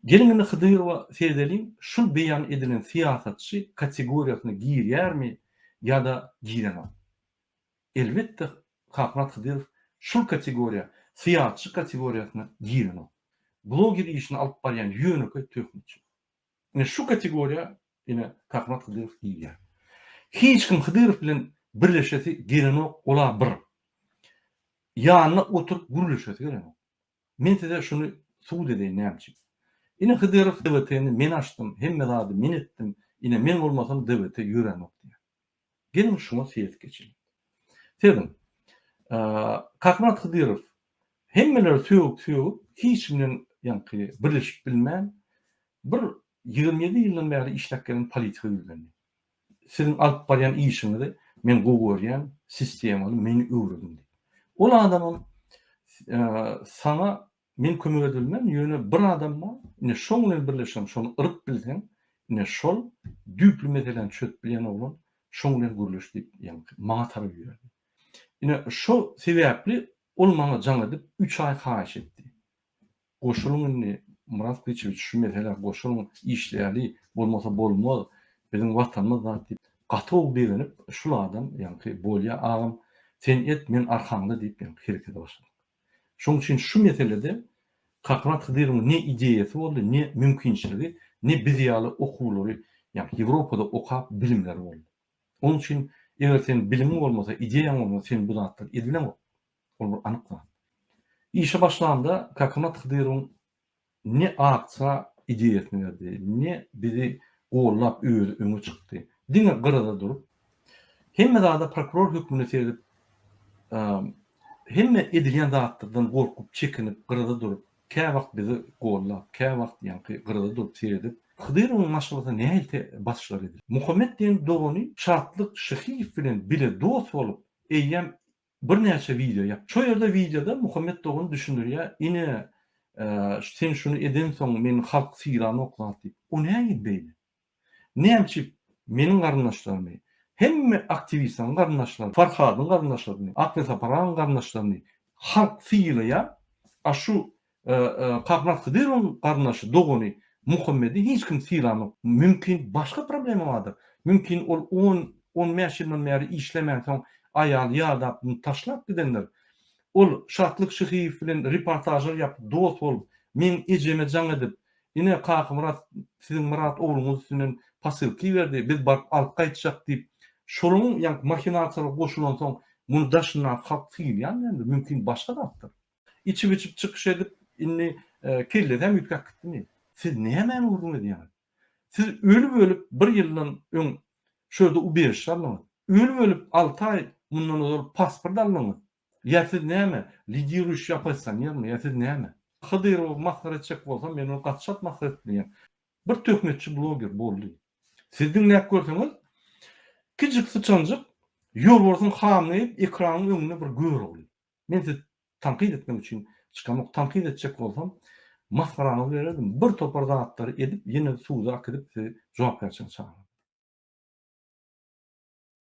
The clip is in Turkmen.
Geliň indi Hydyrowa seredeliň, şul beýan edilen syýasatçy kategoriýasyna girýärmi ýa-da girenok? Elbetde Kakmyrat Hydyrow şul kategoriýa, syýasatçy kategoriýasyna girenok. Bloger işini alyp barýan ýönekeý töhmetçi. Ine şu kategoriýa ine Takmat Hydyrow diýilýär. Hiç kim Hydyrow bilen birleşesi gelenok ola bir. Ýanyna oturyp gürleşesi gelenok. Men size şuny subut edeýin näme üçin. Ine Hydyrow DWT-ni men açdym, hemme zady men etdim, ine men bolmasam DWT ýöränok diýýär. Geliň şuňa seýis geçeliň. Seziň. Kakmyrat Hydyrow hemmeleri sögüp-sögüp, hiç kim bilen ýaňky birleşip bilmän, bir ýigrimi ýedi ýyldan bäri işläp gelen politika ýüzlendi. Siziň alyp barýan işiňizi men gowy görýän, sistemaly, meni öwrediň diýip. Ol adamam saňa Men kömek edilmän, ýöne bir adam bar, ine şoň bilen birleşeň, şony yryp bilseň, ine şol düýpli meseläni çözüp bilýän oglan, şoň bilen gürleş diýip, ýaňky maňa tarap iberdi. Ine şo sebäpli ol maňa jaň edip, üç aý haýyş etdi. Goşulyň indi, Murat Gyçyýewiç, şu meselä goşulyň, işleýäli, bolmasa bolmaz, biziň Watanymyz zat diýip, gaty gowy begenip, şul adam, ýaňky, bolýa agam, sen et, men arkaňda diýip, ýaňky herekete başladyk. Şoň üçin şu meselede Kahraman Hydyrowyň ne ideýasy boldy, ne mümkinçiligi, ne biz ýaly okuwlary, ýagny Ýewropada okap bilimleri boldy. Onuň üçin eger seniň bilimiň bolmasa, ideýaň bolmasa, sen bu zatlar edileňok. Ol bir anyk zat. Işe başlanda Kakamat Hydyrowyň Ne akja ideýasyny berdi, ne bizi gollap özi öňe çykdy. Diňe gyrada durup, hemme zada prokuror hökmünde seredip, hemme edilýän zatlardan gorkup, çekinip, gyrada durup, käwagt bizi gollap, käwagt ýaňky gyrada durup seredip, Hydyrowyň maşgalasyna nähili basyşlar edildi. Muhammet diýen dogany Şatlyk Şyhyýew bilen bile dost bolup, eýýäm Birnäçe wideo ýap. Şo ýerde wideoda Muhammet dogan düşündirýä ine sen şuny edensoň meni halk sylanok zat diýip. O nägin beýle? Nämçip meniň garyndaşlarymy, hemme aktiwistaň garyndaşlarymy, Farhadyň garyndaşlarymy, Akbesaparagyň garyndaşlarymy halk sylaýa, a şu Kahraman Hydyrowyň garyndaşy, dogany Muhammedi hiç kim sylanok. Mümkin başga problema bardyr. Mümkin ol on, on bäş ýyldan bäri işlemänsoň aýaly ýadap muny taşlap gidendir. Ol Şatlyk Şyhyýew bilen reportažlar ýapyp dost bolup, meň ejeme jaň edip, Ine Kakamyrat siziň Myrat ogluňyz üstünden posylka iberdi, biz baryp alyp gaýtjak diýip, şolaň ýaňky mahinasiýalara goşulansoň muny daşyndaky halk sylýan däldir. Mümkin başga zatdyr. Içip-içip çykyş edip, indi kellesi hem üýtgäp gitdimi? Siz nämäni gürrüň edýäňiz? Siz ölüp-ölüp bir ýyldan öň şu ýerde ubežiş aldyňyz. Ölüp-ölüp alty aý mundan ozal pasport aldyňyz. Ýa siz näme, lidiruýşi oppozisionermi, ýa siz näme? Hydyrowy masgara etjek bolsam, men ony gaty çalt masgara edip bilýän. Bir töhmetçi bloger, boldy. Siz diňläp görseňiz, kiçijik syçanjyk Ýolbarsyň hamyny iýip, ekranyň öňünde bir gör ogly. Men siz tankyt etmek üçin çykamok, tankyt etjek bolsam masgaraňyzy bererdim, bir topar zatlary edip ýene suda akidip sizi jogapkärçilige çagyrardy.